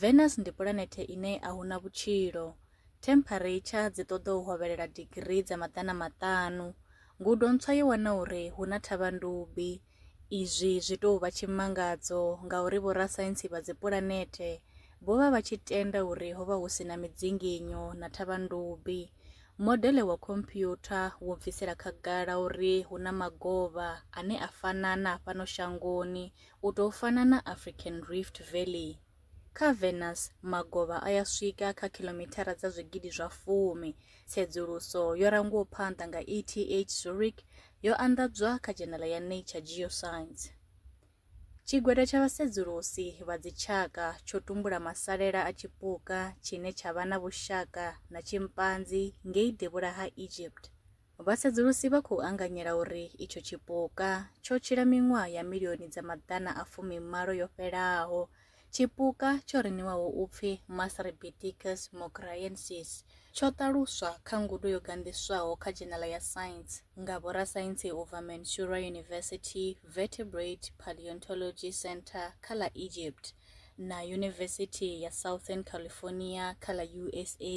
Venus ndi pulanethe ine a hu na vhutshilo. Themphareitshar dzi ṱoḓa u hovhelela digirii dza maḓana maṱanu. Ngudo ntswa yo wana uri hu na thavhandubi. Izwi zwi tou vha tshimangadzo ngauri vhorasaintsi vha dzipulanethe vho vha vha tshi tenda uri ho vha hu si na midzinginyo na thavhandubi. Modele wa khomphyutha wo bvisela khagala uri hu na magovha ane a fana na a fhano shangoni U tou fana na African Rift Valley, kha Venus magovha a ya swika kha khilomithara dza zwigidi zwa fumi. Tsedzuluso yo rangwaho phanḓa nga ETH Zurich yo anḓadzwa kha dzhenala ya Nature Geoscience. Tshigwada tsha vhasedzulusi vha dzitshaka tsho tumbula masalela a tshipuka tshine tsha vha na vhushaka na tshimpanzi ngei devhula ha Egypt. Vhasedzulusi vha khou anganyela uri itsho tshipuka tsho tshila miṅwaha ya milioni dza maḓana a fumi-malo yo fhelaho. Tshipuka tsho ri ṋewaho u pfi Mastrebiticus mograyensis tsho ṱaluswa kha ngudo yo ganḓiswaho kha dzhenala ya Science nga vhorasaintsi u bva Mansoura University Vertebrate Paleontology Centre kha ḽa Egypt na Yunivesithi ya Southern California kha ḽa USA.